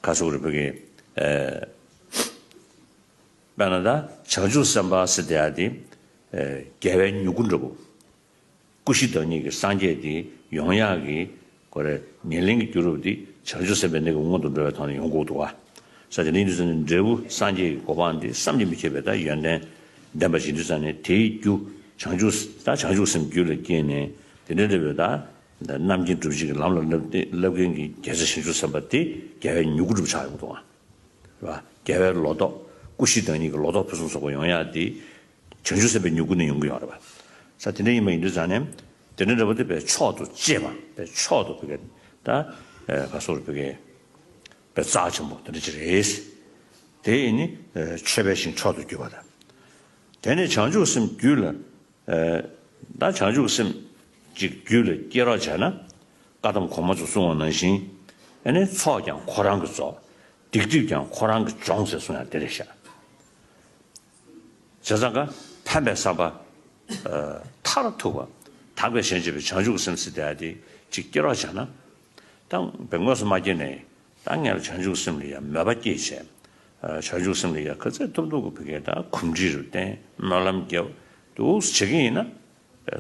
ཁ་སོག་རི་བོ་ཀེ། པད་ན་ད། བྱང་ཆུབ་སེམས་དཔའ་སི་ཏི་ཨ་ཏི། རྒྱལ་བའི་མྱུ་གུ་འདྲ་བོ། སྐུ་བཞི་བདག་ཉིད་ཀྱི་སངས་རྒྱས་འདི་ཡོངས་དབྱངས་ཀྱི། ཀོ་རེ། ཉེར་ལེན་གྱི་རྒྱུ་རུ་འདི་བྱང་ཆུབ་སེམས་དཔའི་གནས་ཀྱི་སྔོན་དུ་འགྲོ་བའི་དོན་ལ་ཡོངས་བཀུག་ཏུ་བ། ས་ཏི་ལིང་དུ་ས་ནི་འབྲས་བུ་སངས་རྒྱས་ཀྱི་གོ་འཕང་འདི་བསམ་གྱིས་མི་ཁྱབ་པའི་ད་ཡོན་ཏན་ལྡན་པ་བཞི་འདི་ས་ནི་དེའི་རྒྱུ་བྱང་ཆུབ་ད་བྱང་ཆུབ་སེམས་རྒྱུད་ལ་སྐྱེས་ནས་དེ་འདྲའི་འབྲས་བུ་ད། རྣམ་མཁྱེན་སྒྲུབ་བྱེད་ཀྱི་ལམ་ལ་བསླབ་མཁན་གྱི་རྒྱལ་ཚབ་ཞིང་ཆུ་བསམ་པ་དེ་རྒྱལ་བའི་མྱུ་གུ་བསྒྲུབ་བྱ་ཡོང་དོ། རྒྱལ་བའི་ལོ་ཏོག་སྐུ་བཞིའི་བདག་ཉིད་ཀྱི་ལོ་ཏོག་ཕུན་སུམ་ཚོགས་པ་ཡོང་ཡ་དེ་བྱང་ཆུ་བསམ་པའི་མྱུ་གུ་ནས་ཡོང་གི་ཡོང་རེད་པ། ས་དེ་འདྲ་ཡིན་པ་ཡིན་དུས་ཙང་ནས་དེ་འདྲ་འདྲ་པོ་དེ་བའི་མཆོག་ཏུ་གཅེས་པ་བའི་མཆོག་ཏུ་བོད་སྐད་ད་བ་སོགས་བོད་སྐད་བའི་རྩ་ཆེན་པོ་དེ་འདྲ་ཅིག་རེད། དེ་ནི་མཆོད་པའི་ཞིང་མཆོག་ཏུ་གྱུར་པ་དང། དེ་ནས་བྱང་ཆུ་བསམ་རྒྱུད་ལ་བདག་བྱང་ཆུབ་སེམས་གཅིག་རྒྱུད་ལ་སྐྱེ་རོགས་བྱས་ན། བཀའ་གདམས་གོང་མ་ཚོ་གསུང་བ་ནང་བཞིན། ཚོགས་ཀྱང་ཁོ་རང་གི་རྫོགས། སྡིག་སྒྲིབ་ཀྱང་ཁོ་རང་གི་སྦྱོང་ཟེར་གསུང་ཡང་དེ་རེད་ཤག། བྱས་ཙང་ཀ་ཕན་པའི་བསམ་པ། མཐར་ཐུག་པ་དག་པའི་ཞལ་འབྱེད་པའི་བྱང་ཆུབ་སེམས་གཅིག་དེ་ཡ་དེ་གཅིག་སྐྱེ་རོགས་བྱས་ན། ད་དངོས་སུ་མ་སྐྱེས་ནས་ད་ངལ་བྱང་ཆུབ་སེམས་ལ་ཡང་མོས་པ་སྐྱེད་བྱེད། བྱང་ཆུབ་སེམས་ལ་ཡང་ཁ་ཚད་ཐུབ་འདུག་གོ་བུ་གའི་ད་གུམ་འདྲི་རུ་བརྟེན་སྨོན་ལམ་རྒྱབ་འདུག་བྱེད་ཀྱི་ཡིན་ན།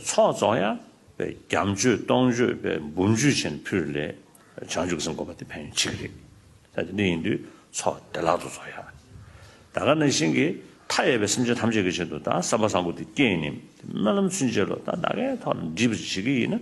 ཚོགས་རྫོགས་ཡ། པའི་རྒྱབ་མཆོད་སྟོང་མཆོད་པའི་འབུམ་མཆོད་བྱེད་ནས་ཕུལ་ལས། བྱང་ཆུབ་སེམས་འགོག་པ་དེ་ཕན་ཡོན་ཆེ་གི་རེད། ད་དེ་འདྲ་ཡིན་དུས་ཚོགས་བདེ་བླག་ཏུ་རྫོགས་ཡ། ད་ག་ནང་བཞིན་གྱི་མཐའ་ཡས་པའི་སེམས་ཅན་ཐམས་ཅད་ཀྱི་ཆེད་དུ་ད་བསམ་པ་བཟང་པོ་དེ་སྐྱེས་ནས་དེ་སྨོན་ལམ་ཚུན་ཆད་ལོ་ད་ད་གའི་ཐོག་ལ་འདྲི་བར་བྱེད་ཀྱི་ཡིན་ན།